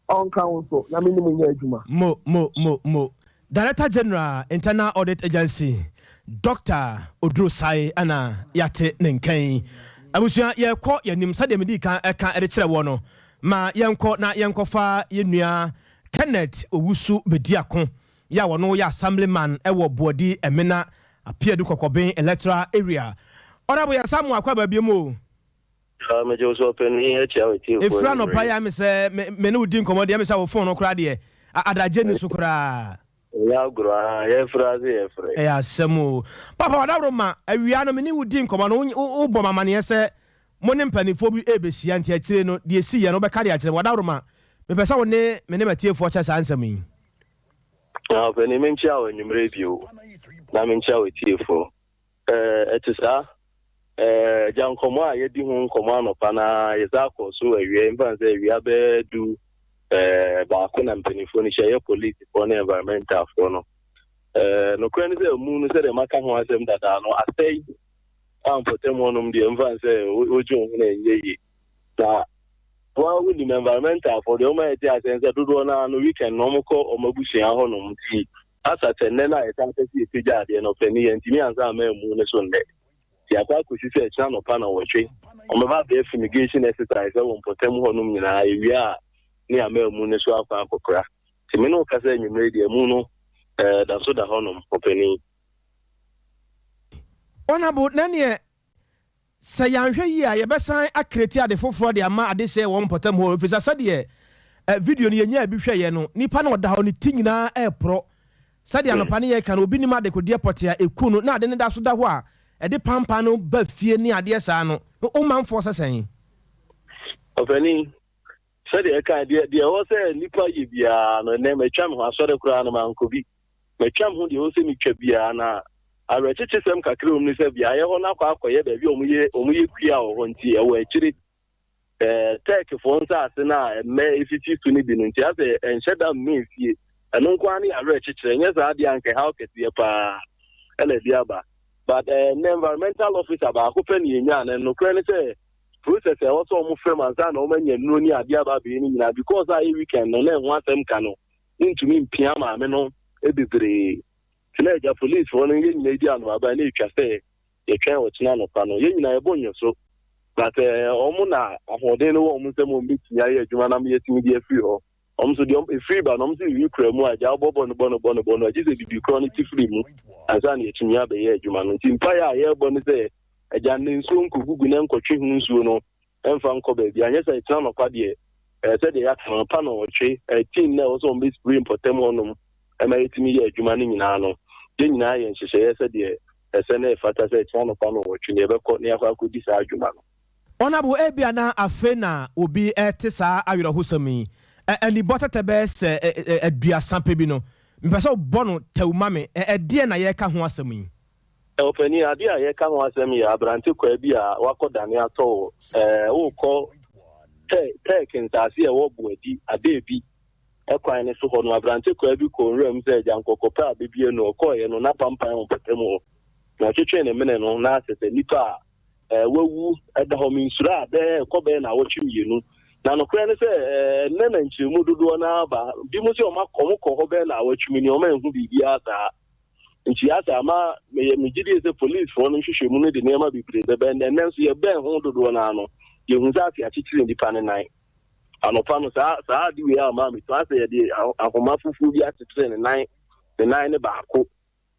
Ɔnka wo nso, Nyame ne mo nyɛ adwuma. Mo, mo, mo, mo. Director General Internal Audit Agency Doctor Oduro Sai na yɛate ne nka yi. Abusua yɛrekɔ yɛn anim sɛdeɛ medii kan ɛka de kyerɛ woɔ no, ma yɛnkɔ na yɛnkɔfa yɛn nua Kenneth Owusu Bediako yɛ a ɔno yɛ Assembly man wɔ Boadi Emena Apeadu Kɔkɔben Electoral Area. Honourable Yɛn nsa amoa akɔ abaabiam o. Haa megye wo sɛ ɔpanin yi akyia me tiefoɔ Ɛfiri anɔpa yi a me sɛ me me ne wo di nkɔmmɔ deɛ me sɛ wo phone no koraa deɛ a adagye nni so koraa. Ɛnyɛ agorɔ aa yɛfrɛ ase yɛfrɛ. Ɛyɛ asɛm o. Papa Ɔdaworo ma awia no me ne wo di nkɔmmɔ no wo wo wobɔ me amaneɛ sɛ mo ne mpaninfoɔ bi ɛrebɛhyia nti akyire no deɛ ɛsiiɛ no wobɛka de akyerɛ me. Ɔdaworo ma mepɛ sɛ wo ne me ne m'atiefoɔ kyɛ saa nsɛm yi. Haa ɔpanin menkyia wo anwummerɛ bio na menkyia w'atiefoɔ. Ɛte saa. Agya, nkɔmmɔ a yɛadi ho nkɔmmɔ anɔpa no ara, yɛsan akɔ so awia, mfa no sɛ awia bɛyɛ du baako na mpanimfoɔ no hyia yɛ polisifoɔ ne environmentalfoɔ no. Nokorɛ ne sɛ amu no sɛdeɛ maka ho asɛm dadaa no asɛe a mpɔtam hɔnom deɛ mfa no sɛ wogye wo ho no ɛnyɛ yie. Na woa wonim environmentalfoɔ deɛ wɔma yɛte aseɛ ne sɛ dodoɔ no ara no weekend na wɔkɔ wɔn abusua hɔnom nti Asa sɛ nnɛ no a yɛtaa pɛ sɛ yɛpagya adeɛ no, ɔsɛ ne yɛntumi ansa amma ammu ne so nnɛ. Nti akɔ akɔsi sɛ ɛkyena anɔpa nnɔnwɔtwe, wɔbɛba abɛyɛ fumigation exercise ɛwɔ mpɔtam hɔnom nyinaa, ɛwie a ne yɛama ammu no so akɔ akɔkora. Nti me ne wo kasa anwumerɛ yi deɛ ammu no ɛɛ da so da hɔnom, ɔpanin. Honourable, na neɛ Sɛ yɛanhwɛ yie a, yɛbɛsan akreti ade foforɔ de ama adehyeɛ wɔ wɔn mpɔtam hɔ, ɛfiri sɛ sɛdeɛ video no yɛnyaa bi hwɛeɛ no, nipa no ɔda hɔ, ne ti nyinaa reporɔ. Sɛdeɛ anɔpa no yɛreka no, obi nim adekodeɛ pɔtee a ɛku no na ade no da so da hɔ a ɛde pampan no ba fie ne adeɛ saa no, wo manfoɔ sɛ sɛn? Ɔpanin, sɛdeɛ ɛkae, deɛ ɛwɔ sɛ nipa yɛ biara no, ɛnnɛ matwa me ho, asɔre koraa no mankɔ bi. Matwa me ho deɛ ɛwɔ sɛ metwa biara, na awerɛkyekyesɛm kakra a ɛwom ne sɛ beaeɛ hɔ no akɔ akɔyɛ baabi a wɔyɛ wɔyɛ kua wɔ hɔ nti ɛwɔ akyire ɛɛ Turkeyfoɔ nsaase no a mmɛ esisi so no bi no nti asɛ ɛnhyɛ da mmɛ nsie ɛno nko ara ne awerɛkyekyerɛ nyɛ saa adeɛ anka ɛhaw kɛseɛ paa ɛna ɛde aba but ɛɛ ne environmental officer baako pɛ ne yɛnya na nokorɛ ne sɛ process a ɛwɔ sɛ wɔn fam ansa na wɔn anya nnuro ne adeɛ aba abɛyɛ no nyinaa because a ɛyɛ weekend no na ɛho asɛm ka no wontumi mpia maame no bebree. Te na agya police hɔ no yɛn nyinaa edi anoaba na etwa sɛ yɛtwɛn ɔkyena anɔpa no. Yɛn nyinaa yɛbɔ nnwɔso but wɔn na ahoɔden no wɔ wɔn nsam wɔn betumi ayɛ adwuma na ama yɛatumi de afiri hɔ. Wɔn nso deɛ efiri ba no wɔn nso yiyi kura mu a agya wobɔ bɔne bɔne bɔne bɔne a gye sɛ bibi korɔ no te firi mu ansa na yɛatumi abɛyɛ adwuma no. Nti mpaeɛ a yɛrebɔ ne sɛ agya nna nsuo nkɔgugu na nkɔtwe ho nsuo no ɛmfa nkɔ baabiara, nyɛ sɛ ɛkyena anɔpa deɛ ɛɛ sɛdeɛ yɛaka no, anɔpa nnɔnwɔtwe, ɛɛ team no a ɛwɔ sɛ wɔn bɛ spray mpɔtam hɔ nom ɛma yɛtumi yɛ adwuma no nyinaa no, yɛn nyinaa yɛ nhyehyɛeɛ sɛdeɛ ɛsɛ na ɛfata sɛ ɛkyena anɔpa nnɔnwɔtwe no yɛbɛkɔ na yɛakɔ akɔdi saa adwuma no. Ɔnabo, Ebia na afei na obi rete saa awerɛhosɛm yi, ɛ, anibɔ tɛtɛ bɛyɛ sɛ ɛ, ɛ, aduasa pɛ bi no. Mepɛ sɛ wobɔ no tɛw ma me, ɛ, ɛdeɛn na yɛreka ho asɛm yi? Ɔpanin, adeɛ a yɛreka ho asɛm yɛ abrantekwaa bi a wakɔdane atɔ wo. Worekɔ Turk nsase a ɛwɔ Boadi, Adeebi, kwan no so hɔ no, abrantekwaa bi kɔɔ nwura mu sɛ agyankɔkɔ pɛ a bɛbue no. Ɔkɔeɛ no, n'apampan wɔ mpɔtam hɔ, na ɔtwetwee ne mene no nan ase sɛ nnipa a wɔawu da hɔ. Mensuraa bɛ kɔ bɛyɛ nnawɔtwe mmienu, na nokorɛ ne sɛ, ɛnnɛ na nkyeremu dodoɔ no ara aba. Binom se wɔkɔɔ hɔ bɛyɛ nnawɔtwe mmienu, wɔanhu biribiara saa. Ntua saa ama meyɛ me gyidie sɛ polisfoɔ no nhwehwɛmu no de nneɛma bebree bɛbɛn dɛ nanso yɛbɛn ho dodoɔ no ara no yɛhu sɛ ase akyekyere nnipa no nan. Anɔpa no saa saa ade wei ama me tua sɛ yɛde ahoma fufuo bi akyekyere ne nan ne nan ne baako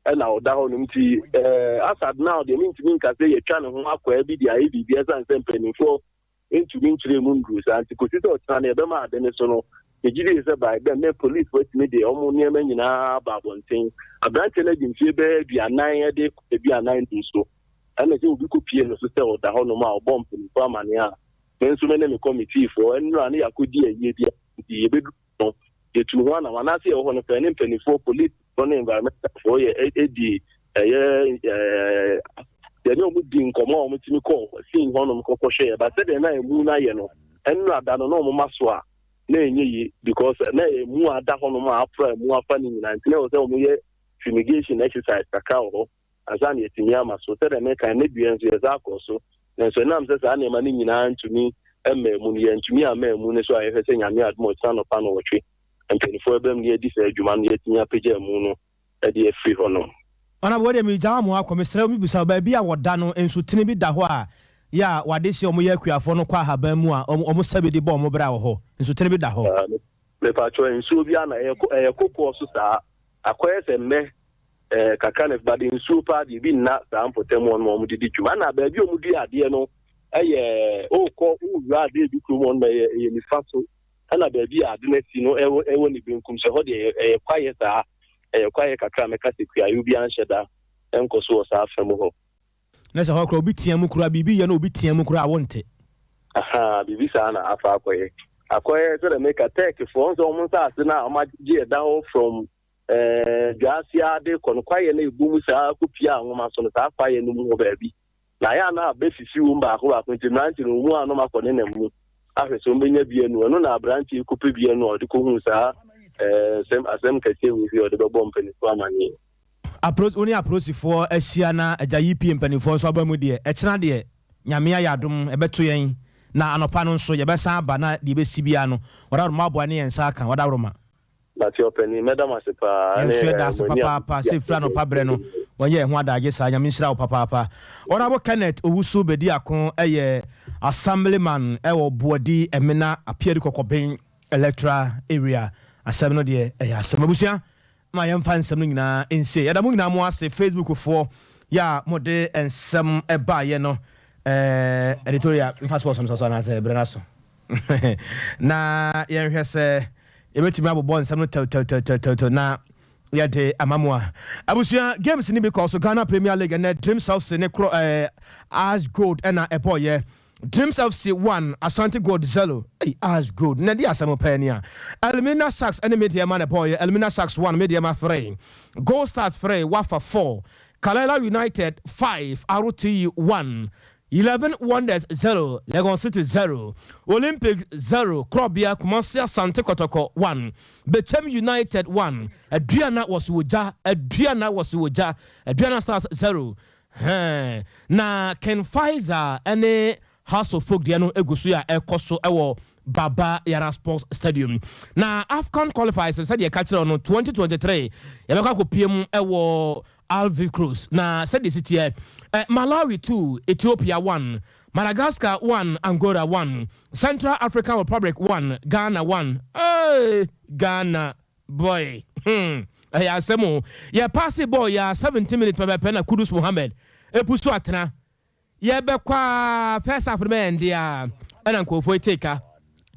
ɛna ɔda hɔ no nti ɛɛ asad now deɛ mentumi nka sɛ yɛatwa ne ho akwaa bi de ayɛ biribi ɛsan sɛ mpanimfoɔ ntumi nkyerɛɛ mu nnuruu saa nti kɔsi sɛ ɔkyena no yɛbɛma ade no so no, megye die sɛ by then na polisfoɔ atumi de wɔn nneɛma nyina ara aba abɔnten. Aberanteɛ no adi mfeɛ bɛyɛ aduanan de kɔ aduanan num so ɛna sɛ obi kɔpie no so sɛ ɔda hɔnom a ɔbɔ mpanimfoɔ amaneɛ a me nso me ne me kɔmitiifoɔ nnura no yɛakɔdi ayie bi nti yɛbɛduru no yɛtuu ho anam anaasɛ yɛwɔ hɔ no pɛɛ ne mpanimfoɔ polisi wɔn ne environmentalfoɔ yɛ e, e, di ɛyɛ yɛne wɔn di nkɔmɔ a wɔtumi kɔ sin hɔnom kɔkɔhwɛ ɛba sɛdeɛ na emu no ayɛ no ɛnura da no na wɔn ma so a na ɛnyɛ yie because na emu ada hɔnom a apra emu afa ne nyinaa nti na ɛwɔ sɛ wɔn yɛ fumigation exercise kakra wɔ hɔ. ansa na yɛatumi ama so. Sɛdeɛ mekae no, na dua nso yɛsan kɔɔ so, nanso ɛnam sɛ saa nneɛma no nyinaa ntumi mmaa mu no, yɛantumi amma amu no so a yɛhwɛ sɛ Nyame adom a ɔkyena anɔpa nnɔwɔtwe mpaninfoɔ bɛba mu na yɛadi saa adwuma no na yɛatumi apagya amu no de afiri hɔnom. Madam, wei deɛ megyaa mo akɔ, mesrɛ wo mebisa wo, baabi a wɔda no nsutene bi da hɔ a yɛ a wɔade hye wɔn yɛ akuafoɔ no kɔ ahaban mu a wɔn sɛbe de bɔ wɔn bra wɔ hɔ? Nsutene bi da hɔ? Mepakyɛw, nsuo bi a na ɛyɛ kokoɔ so saa, akɔyɛ sɛ mmɛ Eh, kakra na ɛfba de nsuo paa deɛ ebi nna saa mpɔtam hɔ nom a wɔde di dwuma. Ɛna baabi a wɔdua adeɛ no yɛ wokɔ wowura adeɛ bi kurom hɔ nom ɛyɛ ɛyɛ nifa so. Ɛna baabi a ade no asi no ɛwɔ ɛwɔ ne benkum so. Ɛhɔ deɛ ɛyɛ kwaeɛ saa. Ɛyɛ kwaeɛ kakra a mɛka sɛ kuayoo biara nhyɛ da nkɔ so wɔ saa afa mu hɔ. Na sɛ hɔ koraa obi team koraa biribi yɛ na obi team koraa a wonte. Ahaa, biribi saa na afa akɔyɛ. Akɔyɛ sɛdeɛ meka Turkeyfoɔ nsɛ wɔn nsaase no a wɔagye ɛda hɔ from Ɛɛ, dwaa ase ara de rekɔ no, kwaeɛ no rebɔ mu saa kɔpiaa nwoma so no, saa kwaeɛ no mu hɔ baabi. Na ayɛ a na abɛfifi wom baako baako, nti mmerante no, wɔn a na wɔakɔ nenam mu ahwɛ sɛ wɔbɛnya bi anu. Ɛno na aberante yi kɔpɛ bi anu a ɔde kɔhuu saa ɛɛ, nsɛm, asɛm kɛseɛ wei sɛ ɔde bɛbɔ mpanimfoɔ amaneɛ. Apro, wo ne apolisifoɔ ahyia na agya yi pue mpanimfoɔ nso aba mu deɛ, ɛkyena deɛ, Nyame ayɛ adom, ɛbɛto yɛn, na anɔpa no nso, yɛbɛsan aba na deɛ ɛbɛsi biara no, wɔde aworɔma aboa ne yɛn nsa aka, wɔde aworɔma. Nate ɔpanin, mɛda mo ase paa. Yɛn nso yɛda ase papaapa sɛ firi anɔpa berɛ no wɔyɛ yɛn ho adaagye saa. Nyame nhyira wo papaapa. Honourable Kenneth Owusu Bediako yɛ Assemblyman wɔ Boadi Amena Apiadi Kɔkɔben Electoral Area. Asɛm no deɛ ɛyɛ asɛm. Abusua ma yɛmfa nsɛm no nyinaa nsie. Yɛda mo nyinaa mo ase, Facebook foɔ yɛ a mo de nsɛm baayɛ no. Ɛɛ Editorial, mfa sports no so anaasɛ berɛ no aso? na yɛnhwɛ sɛ yɛbɛtumi abobɔ nsɛm no tɛwtɛwtɛwtɛwtɛw na yɛde ama mu a. Abusua games no bi kɔɔ so Ghana Premier League ɛnɛ Dreams FC ne korɔ ɛɛ eh, As Gold ɛna ɛbɔɔyɛ. Dreams FC 1, Asante Gold 0. Ei, As Gold na ɛde asɛm pɛɛ ni a. Elmina Sharks ɛne Medeɛma na ɛbɔɔyɛ. Elmina Sharks 1, Medeɛma 3. Gold Stars 3, Wafa 4. Kalela United 5, Arotee 1. Eleven Wonders zero, Legon City zero, Olympics zero, Korɔbea, Kumasi Asante Kɔtɔkɔ one, Bekyem United one, Aduana wɔso wɔ gya, Aduana wɔso wɔ gya, Aduana Stars zero, Hɛɛn, na Ken Faiza ne House of Folk deɛ no gu so a ɛkɔ so wɔ Baba Yara Sports Stadium. Na Afcon Qualifiers sɛdeɛ ɛka kyerɛ no twenty twenty three yɛbɛkɔ akɔpie mu wɔ Alvin Cruz na sɛdeɛ ɛsi teɛ, eh, Malawi two, Ethiopia one, Madagascar one, Angola one, Central African Republic one, Ghana one, eh, Ghana boy, hmm, ɛyɛ asɛm o, yɛ paase bɔɔl yi ara seventeen minutes pɛpɛɛpɛ na Kudus Mohammed ɛpu so atena. Yɛbɛkɔ aa first half no bɛ ɛnde aa ɛna nkorɔfoɔ etee ka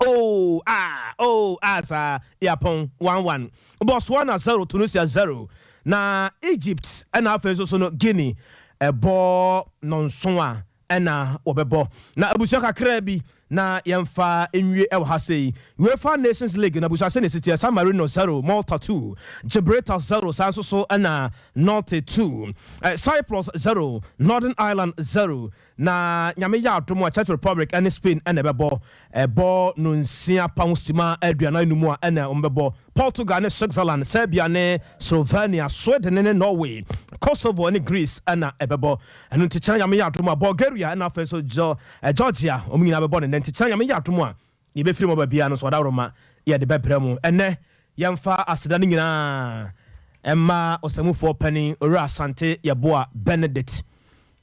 oo aa oo aa saa Yɛapɔn one one, Botswana zero Tunisia zero na Egypt ɛna afei nso so no Guinea ɛbɔ nɔnson a ɛna wɔbɛbɔ na abusua kakraa bi Na yɛmfa nwie wɔ ha sei. Uefa Nations League no abusua sɛnea ɛsi teɛ, San Marino zero, Malta two, Gibraltar zero, saa nso so na Norte two, Cyprus zero, Northern Ireland zero, na Nyame yɛ adom a Czech Republic ne Spain na ɛbɛbɔ, ɛbɔ nonsia pa ho sima aduanan no mu a ɛna wɔbɛbɔ. Portugal ne Switzerland, Serbia ne Slovenia, Sweden ne Norway, Kosovo ne Greece na ɛbɛbɔ. Ɛno nti kyena Nyame yɛ adom a, Bulgaria na afei nso Georgia, wɔn nyinaa bɛbɔ no nnɛ. Nti kyena Nyame yɛ adom a, yɛbɛfiri mu aba biara no, Soadaworoma yɛde bɛbrɛ mo. Ɛnnɛ, yɛmfa aseda no nyinaa mma Ɔsamufoɔ Panin Owura Asante Yeboah Benedict,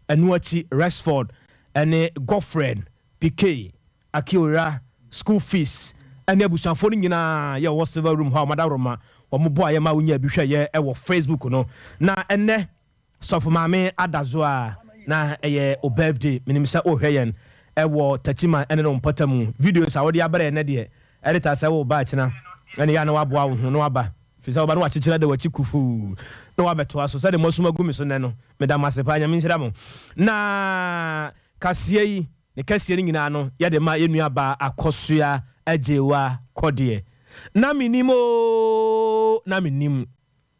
ɛno akyi Rexford ne Godfred Pikey Akiora, school fees, ɛne abusuafoɔ no nyinaa yɛ wɔwɔ silver room hɔ a wɔadaworoma wɔn boaeɛ ma wonyaa bi hwɛeɛ ɛwɔ Facebook no na ɛnnɛ Sɔfo Maame Adazo a na ɛyɛ wo birthday menim sɛ wohwɛ yɛn ɛwɔ Takyiman ɛne ne wo mpɔtamu videos a wode abrɛ yɛn nnɛ deɛ ɛreta sɛ wo ba akyina ɛne yɛ a na woaboa wo ho na woaba firi sɛ woba na wakyekyere ada wakyi kufuu na woabɛtoa so sɛdeɛ moasum agu me so nnɛ no meda mo ase paa Nyame nhyira mo na kaseɛ yi. Ne kɛseɛ no nyinaa no yɛde ma yɛn nua baa Akosua Agyewa Kɔdeɛ. Na me nim oo, na me nim.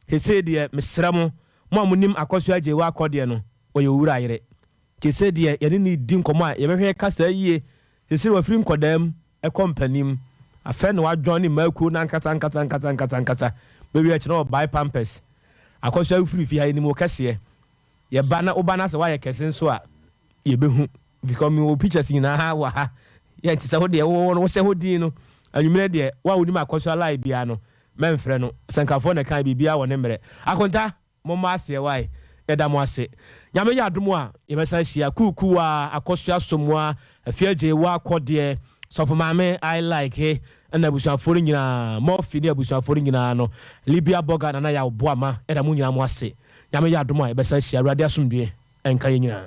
Sesei deɛ mesrɛ mo, mo a mo nim Akosua Agyewa Kɔdeɛ no, ɔyɛ Owura yere. Sesei deɛ yɛne no redi nkɔmmɔ a, yɛbɛhwɛ kasa yie. Sesei wafiri nkɔdaa mu kɔ mpanim. Afei na wadwɔn ne mmaa kuo no ankasa ankasa ankasa ankasa ankasa. Bɛwie akyi na ɔbae pampers. Akosua wofiri fie ha, yɛnim wo kɛseɛ. Yɛba na woba na sɛ woayɛ kɛse nso a, Yɛbɛhu because mewɔ wo pictures nyinaa wɔ ha, yɛ nti sɛ wo deɛ wowɔ no wohyɛ hɔ din no, anwummerɛ deɛ wo a wonim Akɔsua Live biara no mɛmfrɛ no, Sɛnkafoɔ na ɛkae biribiara wɔ ne mmerɛ. Akonta, mommɔ aseɛ wae, yɛda mo ase. Nyame yɛ adom a, yɛbɛsan ahyia, Kuukuuwaa, Akɔsua Asomuaa, Afiagyei Woakɔdeɛ, Sɔfo Maame, I Like, ɛna abusuafoɔ no nyinaa, Murphy ne abusuafoɔ no nyinaa no, Libia Burger, Nana Yaw Boama, yɛda mo nyinaa mo ase. Nyame yɛ adom a yɛbɛsan ahyia Awurade asomdwoeɛ nka yɛn nyinaa.